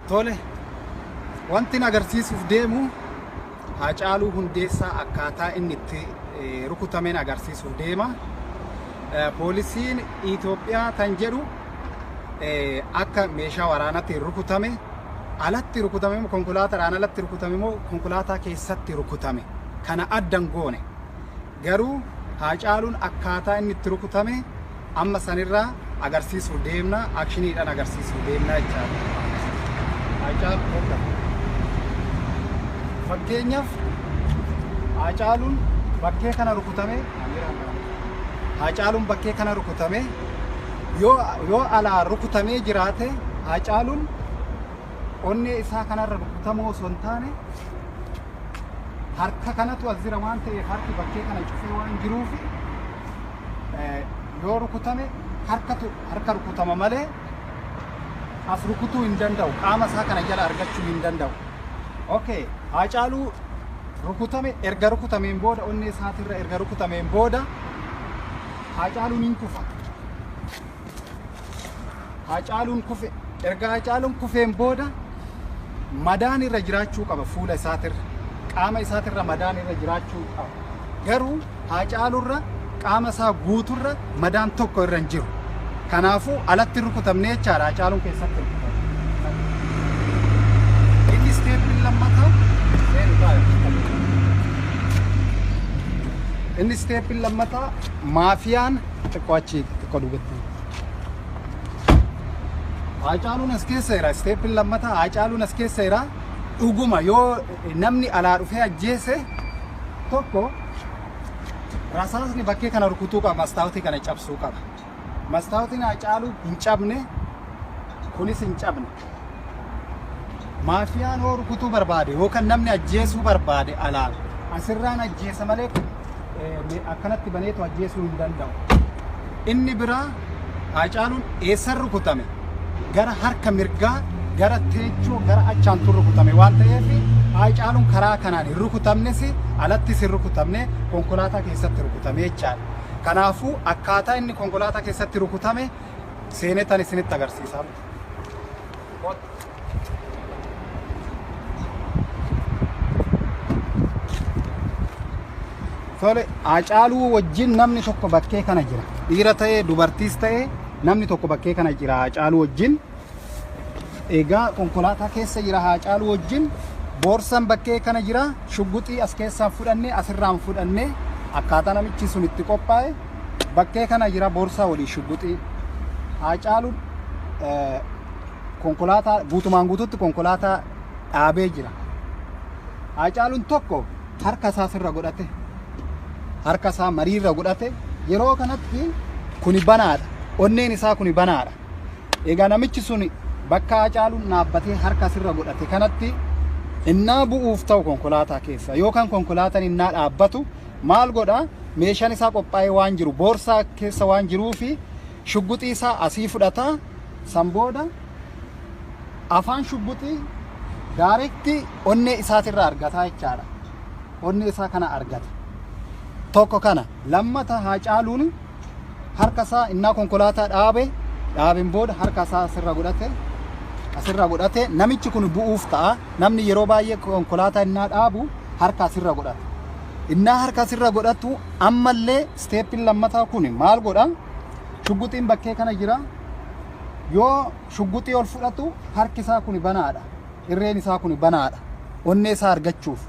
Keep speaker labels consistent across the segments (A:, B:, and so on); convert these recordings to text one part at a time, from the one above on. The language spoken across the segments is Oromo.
A: Tole, wantin agarsiisuuf deemu Haacaaluu Hundeessaa akkaataa inni itti eh, rukutameen agarsiisuuf deema. Eh, Poolisiin Itoophiyaa tan jedhu eh, akka meeshaa waraanatti rukutame alatti rukutame moo konkolaataadhaan alatti rukutame moo konkolaataa keessatti rukutame kana addan goone. Garuu Haacaaluun akkaataa inni itti rukutame amma sanirraa agarsiisuuf deemna, akshiniidhaan agarsiisuuf deemna jechaadha. Haacaaluu bakka. Fakkeenyaaf Haacaaluun bakkee kana rukutame, Haacaaluun bakkee kana rukutame yoo yoo alaa rukutamee jiraate Haacaaluun onnee isaa kanarra rukutamuu osoo hin taane harka kanatu as jira waan ta'eef harki bakkee kana cufee waan jiruuf yoo rukutame harkatu harka rukutama malee as rukutuu hin danda'u qaama isaa kana jala argachuu hin danda'u. Okay, Haacaaluu rukutame erga rukutameen booda onnee isaatirra erga rukutameen booda Haacaaluun hin kufa. Haacaaluun kufe erga Haacaaluun kufeen booda madaan irra jiraachuu qaba fuula isaatirra qaama isaatirra madaan irra jiraachuu qaba garuu Haacaaluurra qaama isaa guuturra madaan tokko irra hin jiru kanaafuu alatti rukutamnee jechaadha Haacaaluun keessatti rukutamne inni isteeppiin lammataa inni isteeppiin lammataa maafiyaan xiqqoo achii xiqqoo duubatti Haacaaluun as keessa jira. Isteeppiin lammataa Haacaaluun as keessa jira. Dhuguma yoo namni alaa dhufee ajjeese tokko rasaasni bakkee kana rukutuu qaba. Mastaawotii kana cabsuu qaba. Mastaawotni Haacaaluu hin cabne kunis hin cabne. Maafiyaan hoo rukutuu barbaade yookaan namni ajjeesuu barbaade alaan asirraan ajjeesa malee akkanatti baneetu ajjeesuu hin danda'u. Inni biraa Haacaaluun eessan rukutame gara harka mirgaa gara teechoo gara achaantu rukutame waan ta'eef Haacaaluun karaa kanaan hin rukutamnes alattis hin rukutamne konkolaataa keessatti rukutame jechaadha. Kanaafuu akkaataa inni konkolaataa keessatti rukutame seenetan isinitti agarsiisaa. Tole Haacaaluu wajjin namni tokko bakkee kana jira. Dhiira ta'ee dubartiis ta'ee namni tokko bakkee kana jira Haacaaluu wajjin. Egaa konkolaataa keessa jira Haacaaluu wajjin. Boorsan bakkee kana jira. Shugguxii as keessaan fudhannee asirraan fudhannee akkaataa namichi sun itti qophaa'e bakkee kana jira boorsaa waliin shugguxii haacaaluun eh, konkolaataa guutumaan guututti konkolaataa dhaabee jira haacaaluun tokko harka isaa sirra godhate harka isaa marii irra godhate yeroo kanatti kuni banaadha onneen isaa kuni banaadha egaa namichi sun bakka haacaaluun dhaabbatee harka sirra godhate kanatti innaa bu'uuf ta'u konkolaataa keessa yookaan konkolaataan innaa dhaabbatu Maal godha? Meeshaan isaa qophaa'ee waan jiru boorsaa keessa waan jiruufi shugguxii isaa asii fudhata. San booda afaan shugguxii daarekti onnee isaatirraa argataa jechaadha. Onnee isaa kana argata. Tokko kana lammata Haacaaluun harka isaa innaa konkolaataa dhaabe dhaabeen booda harka isaa asirra godhate asirra godhate namichi kun bu'uuf ta'a namni yeroo baay'ee konkolaataa innaa dhaabu harka asirra godhata innaa harka asirra godhatu ammallee isteeppiin lammataa kun maal godha shugguxiin bakkee kana jira yoo shugguxii ol fudhatu harki isaa kun banaadha irreen isaa kun banaadha onnee isaa argachuuf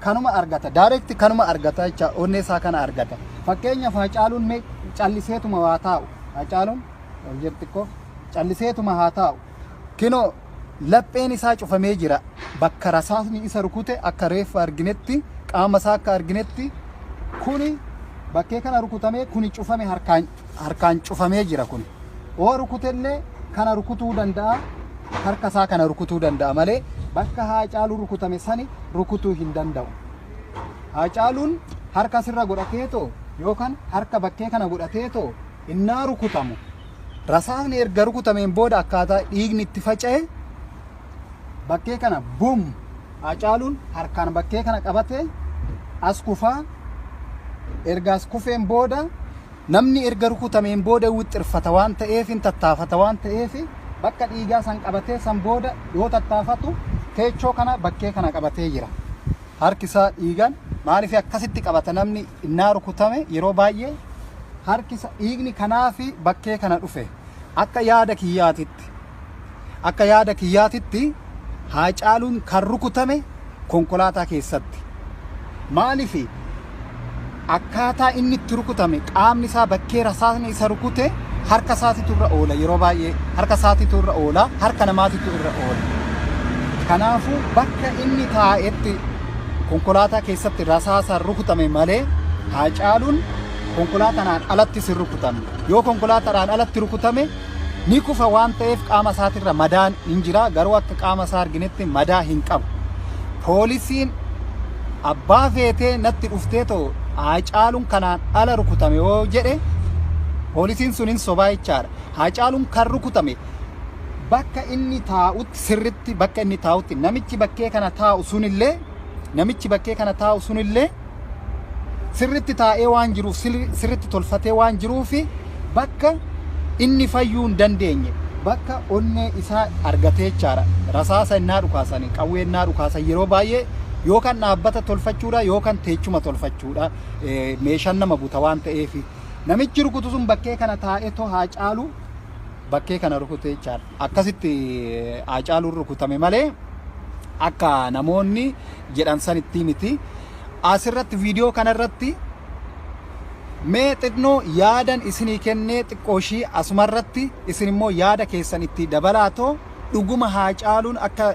A: kanuma argata direct kanuma argata jecha onnee isaa kana argata fakkeenyaaf haacaaluun mee calliseetuma waa taa'u haacaaluun ol jedhu xiqqoo calliseetuma haa taa'u kinoo lapheen isaa cufamee jira bakka rasaasni isa rukute akka reeffa arginetti qaama isaa akka arginetti kuni bakkee kana rukutamee kuni cufame harkaan harkaan cufamee jira kun oo rukutellee kana rukutuu danda'a harka isaa kana rukutuu danda'a malee bakka haacaaluu rukutame sani rukutuu hin danda'u haacaaluun harka sirra godhatee too yookaan harka bakkee kana godhatee too innaa rukutamu rasaasni erga rukutameen booda akkaataa dhiigni itti faca'e bakkee kana bum Haacaaluun harkaan bakkee kana qabate as kufaa erga as kufeen booda namni erga rukutameen booda wixxirfata waan ta'eef hin tattaafata waan ta'eef bakka dhiigaa san qabatee san booda yoo tattaafatu teechoo kana bakkee kana qabatee jira. Harki isaa dhiigaan maaliif akkasitti qabata namni innaa rukutame yeroo baay'ee harki isaa dhiigni kanaa fi bakkee kana dhufe akka yaada kiyyaatitti Akka yaada kiyyaatitti Haacaaluun kan rukutame konkolaataa keessatti. Maaliif akkaataa inni itti rukutame qaamni isaa bakkee rasaasni isa rukute harka isaatitu irra oola yeroo baay'ee harka isaatitu irra oola harka namaatitu irra oola. Kanaafuu bakka inni taa'etti konkolaataa keessatti rasaasaan rukutame malee Haacaaluun konkolaataadhaan alatti sin rukutame. Yoo konkolaataadhaan alatti rukutame Ni kufa waan ta'eef qaama isaatirra madaan hin jira garuu akka qaama isaa arginetti madaa hin qabu. Poolisiin abbaa feetee natti dhuftee too Haacaaluun kanaan ala rukutame yoo jedhe poolisiin sun hin sobaa jechaadha. Haacaaluun kan rukutame bakka inni taa'utti sirritti bakka inni taa'utti namichi bakkee kana taa'u sunillee namichi bakkee kana taa'u sunillee sirritti taa'ee waan jiruuf sirritti tolfatee waan jiruufi bakka inni fayyuu hin dandeenye bakka onnee isaa argatee jechaadha. Rasaasa innaa dhukaasan qawwee innaa dhukaasan yeroo baay'ee yoo kan dhaabbata tolfachuudha yoo kan teechuma tolfachuudha meeshaan nama buta waan ta'eef namichi rukutu sun bakkee kana taa'ee too haa caalu bakkee kana rukute jechaadha. Akkasitti haa caaluun rukutame malee akka namoonni jedhan sanittii miti. Asirratti viidiyoo kanarratti mee xinnoo yaadan isinii kennee xiqqoo ishii asumarratti isin immoo yaada keessan itti dabalaatoo dhuguma haa caaluun akka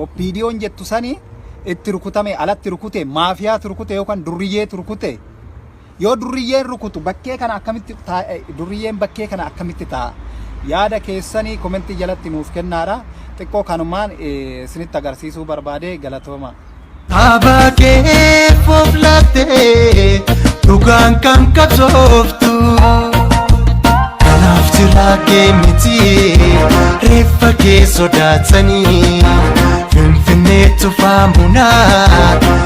A: oppiidiyoon jettu sanii itti rukutame alatti rukute maafiyaatu rukute yookaan durriyyee turkute Yoo durriyyeen rukutu bakkee kana akkamitti taa- eh, durriyyeen bakkee kana akkamitti ta'a? Yaada keessanii komentii jalatti nuuf kennaadha. Xiqqoo kanumaan eh, isinitti agarsiisuu barbaade galatooma. Abaa
B: kee fooflattee dhugaan kan qabsooftu kanaaf jiraa kee miti reeffa kee sodaatanii finfinnee tufaa munaa